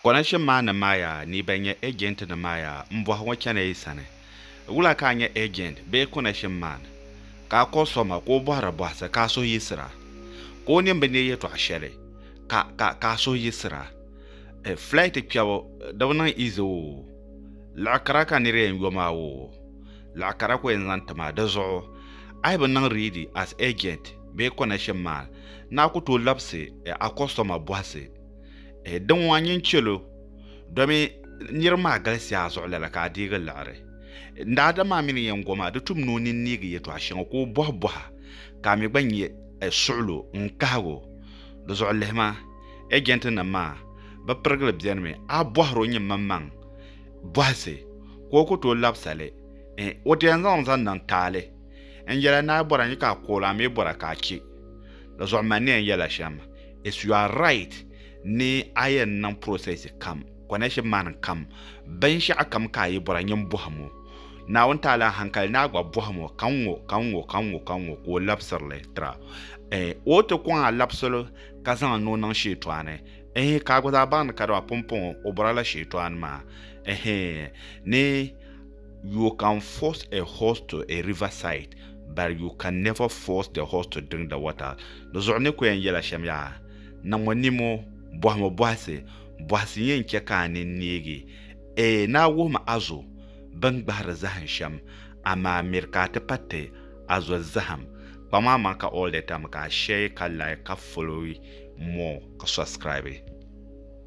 Connection maa ni maa yaa ni bɛn nyɛ agent ni maa yaa m bɔhi ŋɔ chana yi sani wula ka a nyɛ agent bee connection man ka a kɔhi so ma ka o bɔhiri bɔhisi ka a suhu yiɣisira ka o nin bi ne yɛtɔɣ shɛli ka ka ka a suhu yiɣisira eh flight kpɛbu di bi niŋ easy oo liɣi kara ka nir yɛn yo maa oo liɣi kara ku yɛn zaŋ ti ma di zuɣu a yi bi niŋ ready as agent bee connection man ni a ku tooi labisi eh a customer bɔhisi eh, din ŋɔ nyin chɛlo domi niriba maa galisiya a zuɣu lala ka a deegi liɣiri n daadam maa mini yɛn goma di tum ni o nini neegi yɛtɔɣ shɛŋa ka o bɔhi bɔha ka a mi gba nyɛ eh, suɣulo n kahigo di zuɣu lihima ejɛnti nim maa bi pirigili bɛni mi a bɔhiri o nyimmaŋmaŋ bɔhisi ka o ku tooi labisali eh, o ti yɛn zaŋli zaŋ niŋ taali n yɛla ni a bɔra nyi ka a kool a mi bɔra ka a chɛ di zuɣu mani ni yɛn yɛla shɛm It's you are right ni a yɛn niŋ process kam, connection man kam, binshɛɣu kam ka a yi bɔra nyin bɔhim o. Naawuni taala n hankali ni a gba bɔhim o ka ŋ-ŋɔ ka ŋ-ŋɔ ka ŋ-ŋɔ ka ŋ-ŋɔ ka o labisiri li tira. Eeh o ti kɔŋ a labisili ka zaŋ ni o niŋ Shɛɛtɔani eeh ka a gba zaa baŋ ni kadama pumpɔŋɔ o bɔrila Shɛɛtɔani maa eeh ni You can force a horse to a river side but you can never force the horse to drink the water. Di zuɣu ni ku yɛn yɛla shɛm yaa, niŋmo nimo, bɔhimo bɔhisi, bɔhisi yɛn chɛ ka a nini neegi. Eei naa wuhim a zo bɛn gbahiri zahim shɛm, amaa miri ka a ti pa ti a zo zahim. Kpam a maŋ ka all the time ka a share ka like ka follow more ka subscribe.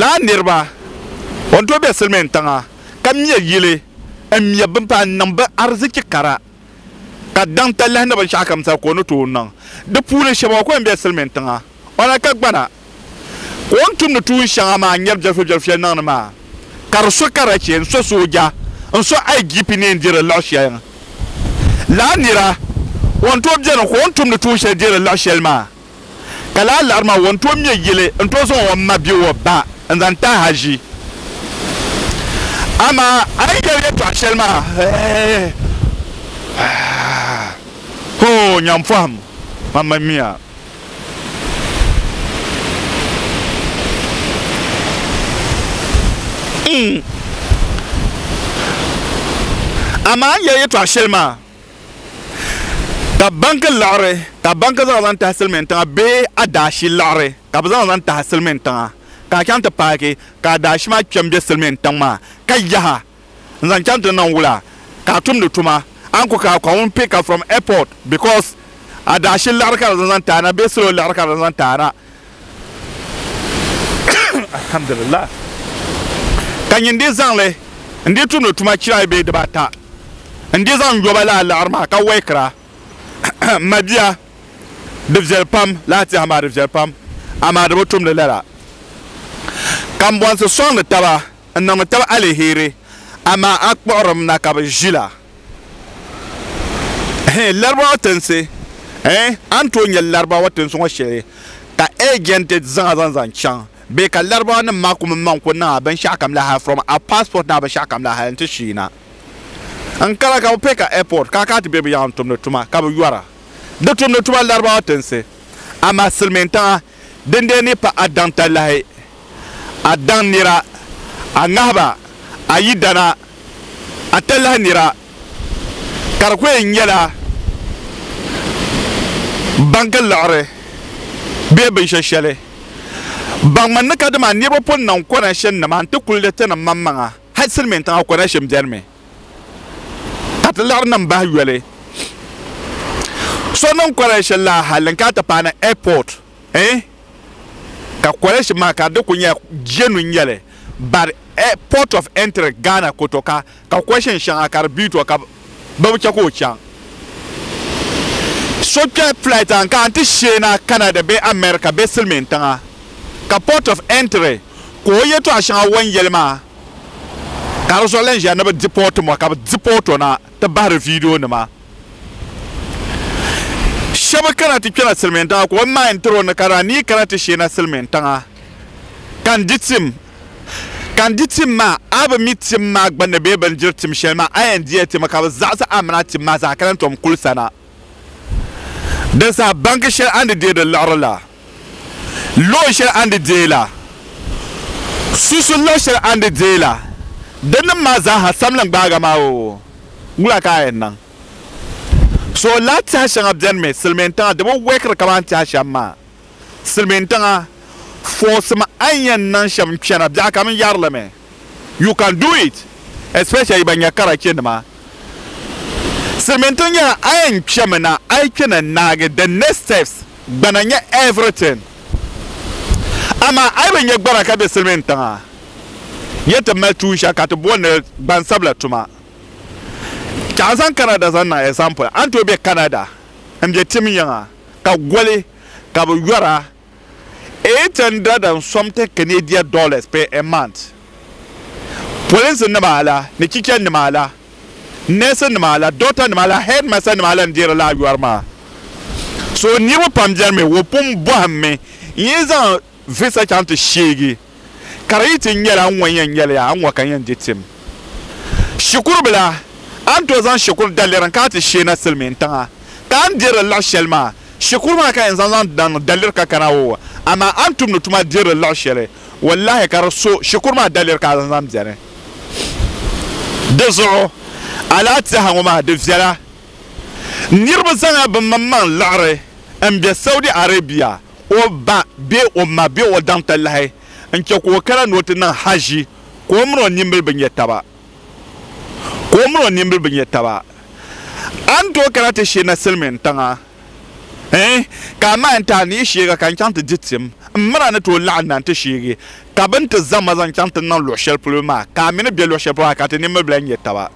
Laa niriba, o ni tooi be silimiin tiŋa ka me yili m-me bini paai n-niŋ bɛ arzichi kara, ka daŋ talahi ni binshɛɣukam zali ka o ni tooi niŋ di puuni shɛba. O kuli be silimiin tiŋa, o na ka gbana. ka o ni tumdi tuun shɛŋa maa n-nyari jɛrifɛjɛri shɛli niŋdi maa, ka di so karachi n-so sooja n-so IGP ni yɛn deeri liɣ shɛli ŋ. Lala nira o ni tooi beni ka o ni tumdi tuun shɛli deeri liɣ shɛli maa, ka lala liɣiri maa o ni tooi me yili n-tooi zaŋ o ma bee o ba n-zaŋ ti ahaʒi. Amaa a yi yɛli yɛtɔɣ shɛli maa, hoo! Nyampɔhim, mam mi miya. Amaa n yɛli yɛtɔɣa shɛli maa ka banki liɣiri ka banki zaŋ zaŋ tahi silmiin tiŋa bee adaashi liɣiri ka bi zaŋ zaŋ tahi silmiin tiŋa ka a chaŋ ti paaki ka adaashi maa kpɛ n bɛ silmiin tiŋ maa ka yaha n zaŋ chaŋ ti niŋ wula ka a tumdi tuma a ni ku ka ka ŋun pick ka from airport because adashi liɣiri ka di zaŋ zaŋ ti a na bee salo liɣiri ka di zaŋ zaŋ ti a na alhamdulillah ka nyin di zaŋli n di tumdi tuma chira ayi bee diba ata n di zaŋ yoba laa liɣiri maa ka wɛikira m ma bia di viɛli pam laa tɛha maa di viɛli pam amaa di bi tumdi lala ka m bɔnsi sɔŋdi taba n-niŋ tab aliheri, amaa a kpuɣirim na ka bɛ ʒila. Hɛ, Larabawa tinsi! Hɛ, a ni tooi nya Larabawa tinsi ŋɔ shɛli ka eejɛnti zaŋa zaŋ zaŋ chaŋ bee ka Larabawanim maa kum m-maŋ ku niŋ a binshɛɣukam la hal from a passport ni a binshɛɣukam la hal nti shii na. N kara ka bɛ pɛ ka airport ka a kana ti be bɛ yaŋa n-tumdi tuma ka bɛ yɔra di tumdi tuma Larabawa tinsi, amaa silimiintiŋa Dindee ni pa a daŋ talahi, a daŋ nira, a ŋahiba, a yidana, a talahi nira, ka di kuli nyɛla baŋgi liɣiri bee binshɛ shɛli. Baŋmi ni kadama niriba pun niŋ kɔnɛshin nima n-ti kuligi tinim maŋmaŋa, hal Silimiintiŋa kɔnɛshin beni mi. ka ti laɣiri niŋ bahi yoli so niŋ kɔlɛshi la hali n ka ti paai ni ɛpɔt eh ka kɔlɛshi maa ka di ku nyɛla jenu n-nyɛli but eh, port of entry Ghana ku to ka ka kɔshin shɛŋa ka di bi to ka bɛ bi chɛ ka o chaŋ so kpɛ flight a n ka a ti sheena Canada bee America bee silimiintiŋa ka port of entry ka o yɛtɔɣa shɛŋa o ni yɛli maa Ka di zuɣu lan ʒiya ni bɛ dipi o tim o, ka bɛ dipi o tɔna ti bahiri viidionima. Shɛba kana ti kpɛna silimiintiŋa ka o naai n-tiri o ni ka daa ni yi kana ti sheena silimiintiŋa ka n di tim, ka n di tim maa, a bi mi tim maa gbunni bee bɛ ni diri tim shɛli maa, a yɛn diya ti mi ka bɛ zaɣisi a mini a tim maa zaa ka lan tom kuli sana. Di zaa baŋgi shɛli a ni deei di liɣiri la, luɣ shɛli a ni deei la, susu luɣ shɛli a ni deei la, di nim maa zaaha samlim gbaaga maa o, wula ka a yɛn niŋ? So laa tɛha shɛŋa beni mi silimiin tiŋa di bi wɛkiri kaman tɛha shɛm maa. Silimiin tiŋa, fɔɣisim a ni yɛn niŋ shɛm n-kpɛna biɛɣu kam n-yɛri li mi. You can do it especially ban nyɛ karachi nima silmintiŋ nyɛla a yɛn kpɛmi na a yi kpɛna naagi the next steps gbana nyɛ everything amaa a yi bi nyɛ gbana ka be silmintiŋa yɛn ti mali tuun shɛli ka ti booni li gbansabila tuma ka a zaŋ Canada zaŋ niŋ example a ni tooi be Canada n be tim yiŋa ka goli ka bi yɔra eight hundred and something Canadian dollars per a month. Polinsi nima la ni chicha nima la, nurse nima la, doctor nima la, headmaster nima la n-deeri lala yɔri maa. So niriba pam beni mi, o pun bɔhim mi n-yi zaŋ visa chaŋ ti sheegi. ka di yi ti nyɛla a ni ŋɔ yɛn nyɛli ya, a ni ŋɔ ka n yɛn di tim. Shikuru bila, a ni tooi zaŋ shikuru daliri n-kana a ti sheena silimiin tiŋa, ka a ni dirili liɣi shɛli maa, shikuru maa ka yɛn zaŋ zaŋ daŋ daliri ka kana o, amaa a ni tumdi tuma dirili liɣi shɛli, wallahi ka di so shikuru maa daliri ka a zaŋ zaŋ beni. Di zuɣu, a lahi tɛha ŋɔ maa di viɛla. Niriba zaŋ ya bɛ maŋmaŋ liɣiri m-be Saudi Arabia. o ba bee o ma bee o daŋ ti lahi n-chɛ ka o kana ni o ti niŋ Hajji, ka o min o nimbili bi nya taba. Ka o min o nimbili bi nya taba. A ni tooi kana ti sheena Silimiin tiŋa? Ɛɛn! Ka amaa n ti a ni yi sheeg a ka n chaŋ ti di tim, m min a ni tooi laɣim na nti sheeg ka bɛ ni ti zaŋ ma zaŋ chaŋ ti niŋ luɣ shɛli polo maa, ka a mi ni be luɣ shɛli polo maa ka ti nimbili bɛla nya taba.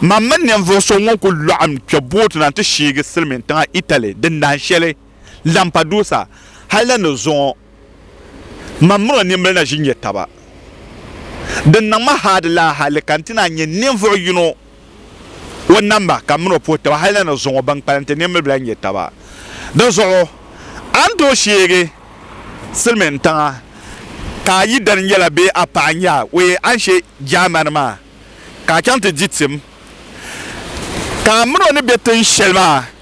Mam mini ninvuɣ so ŋun kul laɣim kpe booti na nti sheeg Silimiin tiŋa Italy dindaan shɛli. Lampadusa hali la ni zuŋɔ man mini o nimbili na ʒi nya taba. Din niŋ ma haadi la hali ka nti naan nya ninvuɣ yino o namba ka m mini o puhi taba hali la ni zuŋɔ ban kpalim ti nimbili bi lahi nya taba. Dinzuɣu a ni tooi sheegi silimiin tiŋa ka a yidana nyɛla bee a paɣa n-nyɛ a, o yɛn a ni she Jaamani maa ka a chaŋ ti di tim ka a mini o ni be tin shɛli maa.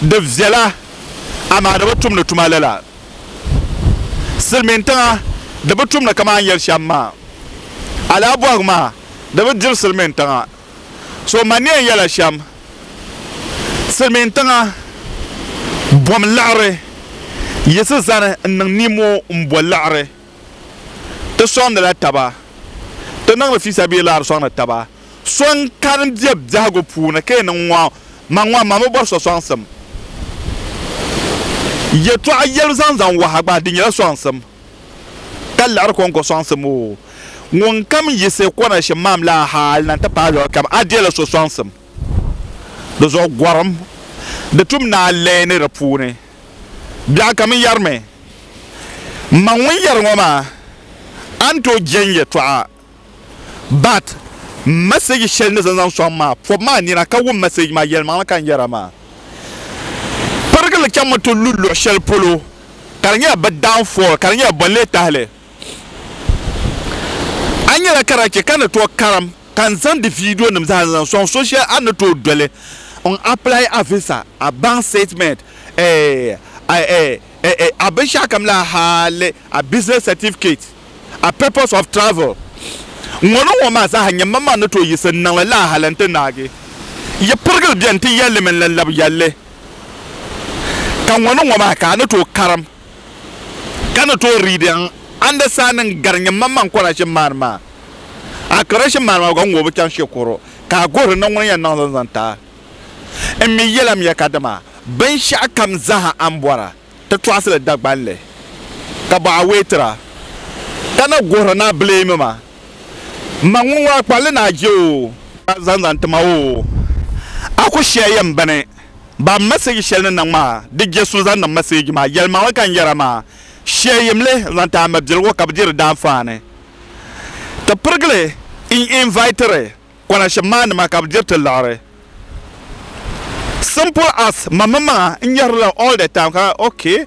di viɛla amaa di bi tumdi tuma lala. Silimiin tiŋa di bi tumdi kaman yɛli shɛm maa. Alaha bɔhigu maa di bi diri silimiin tiŋa. So ma ni yɛn yɛla shɛm, silimiin tiŋa bom laɣiri yiɣisi zani n-niŋ nimoo m-bo laɣiri. ti sɔŋdila taba, ti niŋdi fiisabilillah di sɔŋdi taba. So n-kani bɛ biɛhigu puuni ka yi niŋ ŋɔ, man ŋɔ man bi bɔri so sɔŋsim. Yɛtɔɣa yɛlibu zaŋ zaŋ waha gba, di nyɛla sɔŋsim. Ka liɣiri kɔŋko sɔŋsim o. Ŋunkam yiɣisi kɔnashim maam la hali na nti paai luɣ kam, a dila so sɔŋsim. Di zuɣu gɔrim, di tum ni a leei ni di puuni. Biɛɣu kam yɛrimi, M ma ŋun yɛri ŋɔ maa, a ni tooi je n yɛtɔɣa. But m message shɛli ni zaŋ sɔŋ maa pɔbi ma a nina ka wum message maa yɛlimaŋli ka n yɛra maa. Pirigili chaŋmi ti lu luɣ shɛli polo ka di nyɛla bɛ downfall ka di nyɛla bɔnlee tahili. A nyɛla karachi ka ni tooi karim ka n zaŋdi viidiyo nim zaa n zaŋ soŋ so shɛli a ni tooi doli n apply a visa, a bank statement, a binshɛɣu kam la hali a business certificate, a papers of travel. Ŋɔ ni ŋɔ maa zaaha nyɛ manmaŋ ni tooi yiɣisi n niŋli laa hali n ti naagi yi pirigili bɛni ti yɛlli mini la labi yɛlli ka ŋɔ ni ŋɔ maa ka a ni tooi karim. ka ni tooi riidi n andasaanin gari nyin man man kɔrashim maani maa. A kɔrashim maani maa gba ŋun o bi chaŋ shikuru ka a guhiri ni ŋuni yɛn niŋ zaŋ zaŋ ti a. N mi yɛlim ya ka dama binshɛɣukam zaaha a ni bɔra ti tɔɣisi li Dagban li ka bɔ a wee tira ka na guhiri ni a bileemi ma m ma ŋun ŋɔ a kpalli ni a je o zaŋ zaŋ ti ma o a ku shɛhi ya m bini. Ba message shɛli ni niŋ maa di je so zaŋ niŋ message maa yɛlimaŋli ka n yɛra maa shee yim li n zaŋ ti a mabiligu ka bi di di daanfaani ti pirigili n invitiri konashim maa nima ka bi diri ti liɣiri simple as ma mini maŋa n nyɛrila all the time ka okay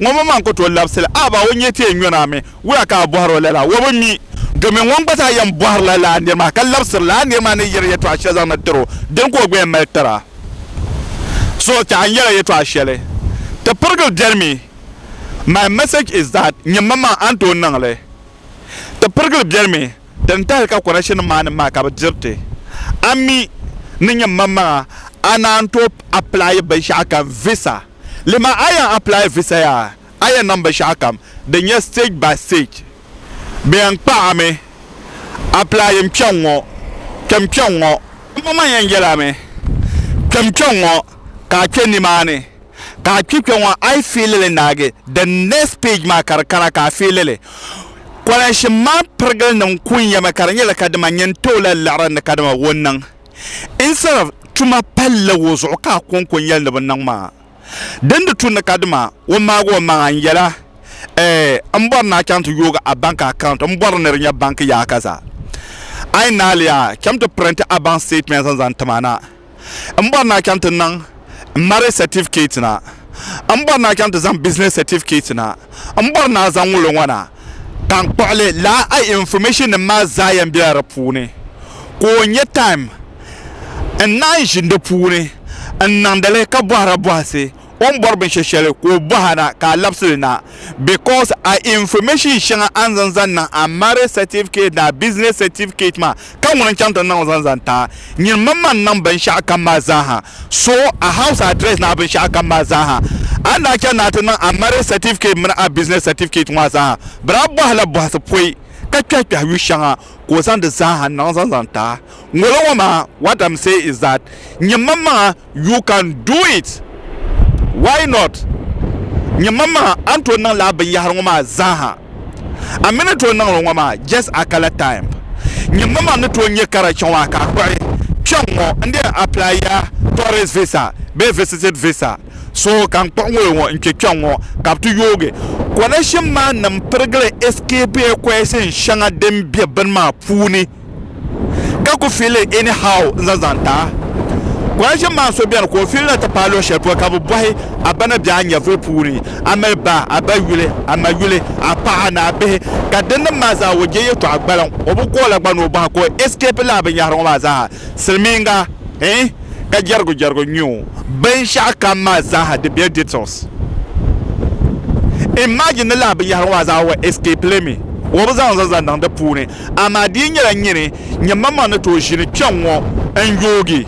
Ŋɔbɔ maa n-ku tooi labisi li, a ba o nyɛ ti yɛn nyɔna mi, wula ka a bɔhiri o lala? Ŋɔbɔ mi, domin ŋun gba zaa yɛn bɔhirila lala nir maa, ka labisiri li, a nir maa ni yɛri yɛtɔɣ shɛli zaŋdi tir o, dini ka o gba yɛn mali tir a? So, tɛha n yɛla yɛtɔɣ shɛli, Ti pirigili beni mi, My message is that, Nyimmaŋmaŋ, a ni tooi niŋ li. Ti pirigili beni mi, Ti ni tahili ka kɔnɛkshinnim maa ni maai ka bɛ diri ti. A mi, ni nyimmaŋmaŋa, a naan tooi apilaayi binshɛɣu kam, visa. Lima a yɛn apply visa ya a yɛn niŋ binshɛɣu kam din nyɛ stage by stage. Bɛ yɛn kpa a mi apply yim kpɛŋ ŋɔ, kpɛm kpɛŋ ŋɔ. Amaa man yɛn yɛl a mi kpɛm kpɛŋ ŋɔ ka a kpe nimaani ka a kpi kpɛŋ ŋɔ a yi feeli li naagi the next page maa ka di kana ka a feeli li. Kolanshim maa pirigilinim ku nyɛmi ka di nyɛla kadama nyin tooi lahi liɣiri ni kadama o niŋ. instead of tuma palli wo zuɣu ka a konko n yɛli ni bi niŋ maa din di tu ni ka dima o maagi o maŋa n yɛla ɛɛ n bɔri ni a chaŋ ti yoogi a bank account n bɔri ni di nyɛ bank yaa ka za a yi naali a chɛm ti print a bank statement n zaŋ ti ma na n bɔri ni a chaŋ ti niŋ n marriage certificate na n bɔri ni a chaŋ ti zaŋ business certificate na n bɔri ni a zaŋ ŋuli ŋɔ na tankpuɣili laa a information nim maa zaa yɛn bela di puuni ka o nyɛ time n naan ʒini di puuni n niŋdili ka bɔhira bɔhisi o ni bɔri binshɛ shɛli ka o bɔha na ka a labisi li na because a information shɛŋa a ni zaŋ zaŋ niŋ a marriage certificate ni a business certificate maa ka ŋuni n-chaŋ ti niŋ zaŋ zaŋ taai nyini mini ma ni niŋ binshɛɣu kam maa zaa ha. So a house address ni a binshɛɣu kam maa zaa ha. A ni daa chani ni a ti niŋ a marriage certificate mini a business certificate ŋɔ a zaa ha, bɛ daa bɔhi la bɔhisi pɔi ka kpɛhi kpɛhi yu shɛŋa ka o zaŋ di zaa ha niŋ zaŋ zaŋ taai ŋolo ŋɔ maa. What I'm say is that nyini mani maŋa You can do it! Why not? Nyɛ mam maha a ni tooi niŋ lala binyɛhiri ŋɔ maa zaaha. A mi ni tooi niŋ li ŋɔ maa, just a kala time. Nyɛ mam a ni tooi nyɛ ka di chaŋ a ka a kpuɣi kpɛŋ ŋɔ n-di yɛn apply ya tourist visa bee visited visa. So ka n kpuɣi ŋolo ŋɔ n-kpe kpɛŋ ŋɔ ka bɛ ti yoogi connection man nim pirigili escape equation shɛŋa din be bini maa puuni. ka ku fiili anyhow n zaŋ zaŋ ti a. Kuraʒim maa so beni ka o fiili na ti paai luɣ shɛli polo ka bɛ bɔhi a ba ni be a nyɛvuli puuni, a mali ba, a ba yuli, a ma yuli, a paɣa ni a bihi, ka dinnim maa zaa o je yɛtɔɣa gbaliŋ. O bi ku o la gba ni o bɔhi a ka o escape lala binyɛhiri ŋɔ maa zaa ha. Silimiiŋga, eh, ka jɛrigujɛrigu n-nyɛ o. Binshɛɣu kam maa zaa ha di be details. Imagine ni lala binyɛhiri ŋɔ maa zaa o escape li mi, o bi zaŋ n zaŋ zaŋ niŋ di puuni. Amaa di yi nyɛla n nyini nyɛmmaŋmaŋ ni tooi ʒini kpɛŋŋɔ n-yoogi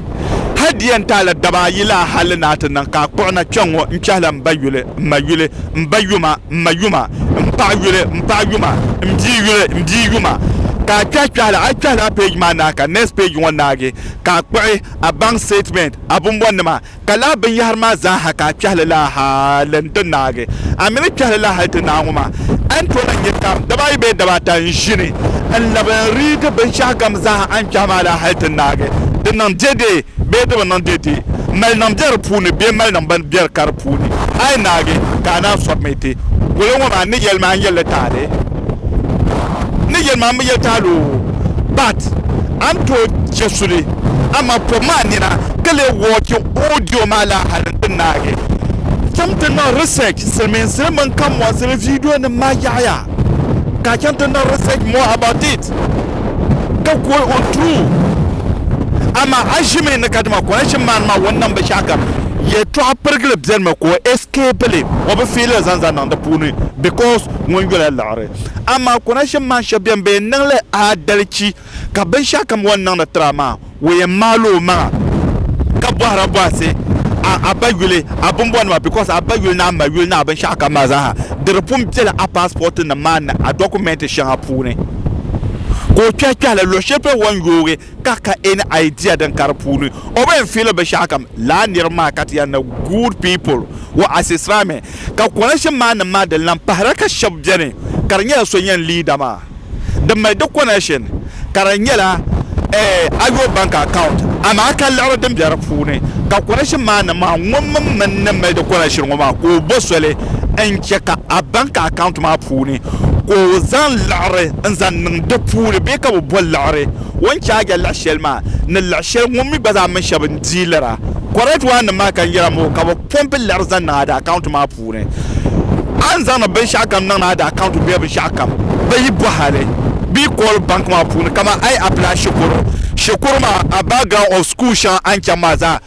hal di yɛn taai la daba ayi laa hal ni naa ti niŋ ka a kpuɣi na kpɛŋŋɔ n-chahi la m ba yuli, m ma yuli, m ba yuma, m ma yuma, m paɣ yuli, m paɣ yuma, m bia yuli, m bia yuma. Ka a kpɛhi kpɛhila, a yi kpɛhila a page maa naai ka next page ŋɔ naagi ka a kpuɣi a bank statement, a bumbɔnnima, Ka laa binyɛhiri maa zaaha ka a kpɛhi li laa hal n-ti naagi, a mi ni kpɛhi li laa hal ti naai ŋɔ maa, a ni tooi lahi nya kam daba ayi bee daba ata n-ʒini n-labi n-riigi binshɛɣu kam zaaha a ni kpɛhi maa laa hal ti naagi, di niŋ deedeei bee di bi niŋ deedeei, malinim be di puuni bee malinim bi be di ka di puuni, a yi naagi ka a naan sɔbimi ti goli ŋɔ maa, n ni yɛli ma a ni yɛli li taali. ni yɛli maa mi yɛli taali o but a ni tooi chɛ suli amaa pɔbi maa nina ka lee wɔchi audio maa laa hali n ti naagi chaŋ ti niŋ research silimiinsili mini kanbɔnsili video nim maa yaɣiya ka a chaŋ ti niŋ research more about it ka ku o true amaa a ʒimi ni kadama connection maa ni maa o ni niŋ binshɛɣu kam yɛltɔɣa pirigili bɛlimi ka o escape li o bi fiili li zaŋ zaŋ niŋ di puuni because ŋun yola liɣiri. Amaa konashim maa shɛb beni bɛ yɛn niŋ li aadalichi ka binshɛɣukam o ni niŋdi tiri a maa o yɛn maali o maŋa ka bɔhira bɔhisi a a ba yuli a bimbɔnima because a ba yuli ni a ma yuli ni a binshɛɣukam maa zaa ha di di pun bela a paasipɔtinim maa ni a dɔkumɛnti shɛŋa puuni ka o kpɛhi kpɛhili luɣ shɛli polo o ni yoogi ka ka en idea din ka di puuni o bi en feel bishakam laa niriba maa ka ti yan ni good people wa asisra mi ka connection maa nim maa din lan pahira ka shɛb beni ka di nyɛla so nyɛn leader maa di mali di connection ka di nyɛla eh, ayo bank account amaa ka liɣiri din be di puuni ka connection maa nim maa ŋun min min ni mali di connection ŋɔ maa ka o bo soli n che ka a bank account maa puuni ka o zaŋ liɣiri n zaŋ niŋ di puuni bee ka bi bo liɣiri o ni chaaja liɣi shɛli maa ni liɣi shɛli ŋun mi gba zaa mini shɛba n diilira correct one nim maa ka nyɛla moo ka bi pompi liɣiri zaŋ niŋ ada account maa puuni a ni zaŋdi binshɛɣu kam niŋdi ada account bee binshɛɣu kam bi yi bohali bi yi call bank maa puuni kaman a yi apply shikuru shikuru maa a background of school shɛŋa a ni chaŋ maa zaa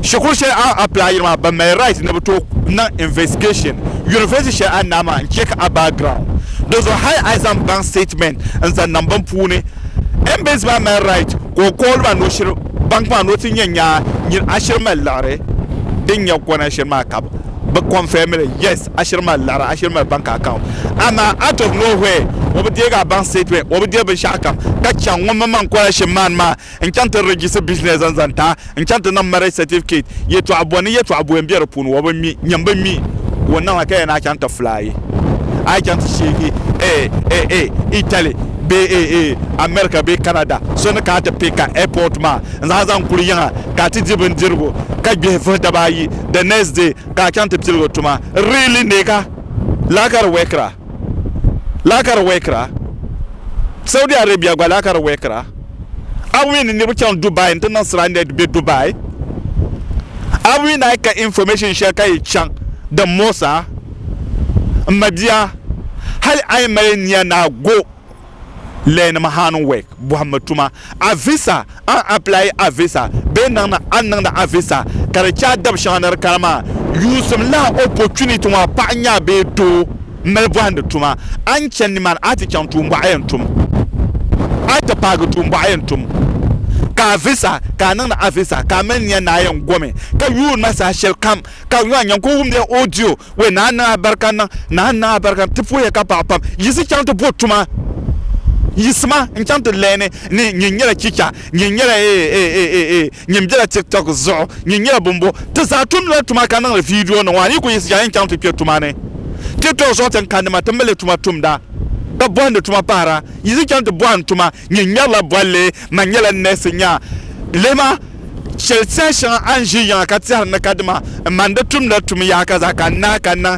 Shikuru shɛli a apply yiri maa bɛ mali right ni bɛ tooi niŋ investigation university shɛli a naai maa n-check a background di zuɣu hali a zaŋ bank statement n-zaŋ niŋ bini puuni Embasy maa mali right ka o call ba ni o shiri bank maa ni o ti nya nyaa nyin a shiri mali liɣiri din nya kɔna shiri maa ka bɛ confirm li yes a shiri mali liɣiri a shiri mali bank account amaa out of nowhere o bi deegi a bank statement o bi deei binshɛɣu kam ka chaŋ ŋun mini ma n-kɔna shiri maa ni maa n chaŋ ti register business n zaŋ taai n chaŋ ti niŋ marriage certificate yɛtɔɣa bɔ ni yɛtɔɣa bɔyi n be di puuni wa bi mi nyam bi mi ka o niŋla ka yɛn a chaŋ ti fly a yi chaŋ ti sheegi eh eh eh Italy bee eh eh America bee Canada so ni kana ti pick ka airport maa n zaŋ a zaŋ kuli yiŋa ka a ti di bindirigu ka gbihi vuhi daba ayi the next day ka a chaŋ ti piligi tuma really neka laa ka di work ra laa ka di work ra Saudi Arabia gba laa ka di work ra. A wii ni niriba chaŋ Dubai n-ti niŋ stranded be Dubai? A wii ni a yi ka information shɛli ka yi chaŋ din moos a? M ma bia, hali a yi mali nia ni a go leenima hand work, bɔhimmi tuma, a visa, a ni apply a visa bee niŋdi a ni niŋdi a visa ka di che a dabi shɛŋa ni di kana maa, yuusim lahi opportunity maa paɣa nya a bee doo. n mali bɔhindi tuma. A ni chani nimaani, a ti chaŋ tuumbɔɣu yɛn tum. A ti paagi tuumbɔɣu yɛn tum, ka a visa, ka a niŋdi a visa, ka a mali nia ni a yɛn gomi, ka yuun ma saha shɛli kam, ka a nyɔɣu ku wumdi a audio. Wee, Naa n-niŋ a barikan niŋ, Naa n-niŋ a barikan niŋ, ti puhi ya ka paɣi pam. Yiɣisi chaŋ ti bo tuma. Yiɣisi ma n-chaŋ ti lɛɛni ni nyin nyɛla chicha. Nyin nyɛla eeeeee Nyin bela tiktok zuɣu Nyin nyɛla bumbu Ti zaa tumdila tuma ka niŋdi vidio nima Yi ku yiɣisi yaa yin chaŋ ti kpe tuma ni Tiktok zuɣu tin kandi ma Ti mali tuma tumda Ka bɔhindi tuma pahira Yiɣisi chaŋ ti bɔhim tuma Nyin ŋmɛrila bolli Man nyɛla neesi Nya lihima shɛli tɛha shɛŋa a ni ʒi yiŋa ka tɛhiri ni ka dima N man di tumdila tum yaa ka zaa ka n naai ka n niŋ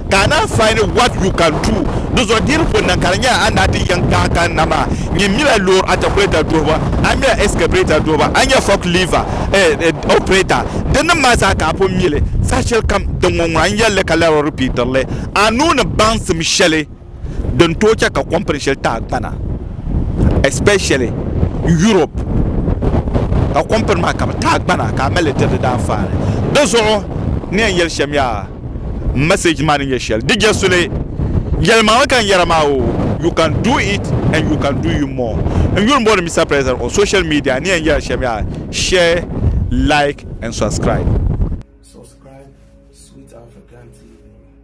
ka a naan find what you can do di zuɣu diri ko niŋ ka di nyɛla a naati yiŋ kahi ka na maa nyin mila loori atakuleta duhiba a mila ɛskɛbrɛta duhiba a nya fɔk liiva opirɛta din nim maa zaa ka a pun mili saha shɛlikam din ŋɔ ŋuna n yɛlli ka lala o ripiitiri li a nuu ni baŋsim shɛli din tooi chɛ ka kɔmpini shɛli tahipana especially Europe ka kɔmpini maa ka bɛ tahigbana ka a mali li tiri di daanfaani. Di zuɣu n ni yɛn yɛli shɛm yaa m message maa ni nyɛ shɛli di je suli yɛlimaŋli ka n yɛra maa oo you can do it and you can do you more n yuli m-boli Mister President on social media n ni yɛn yɛra shɛm yaa share like and subscribe.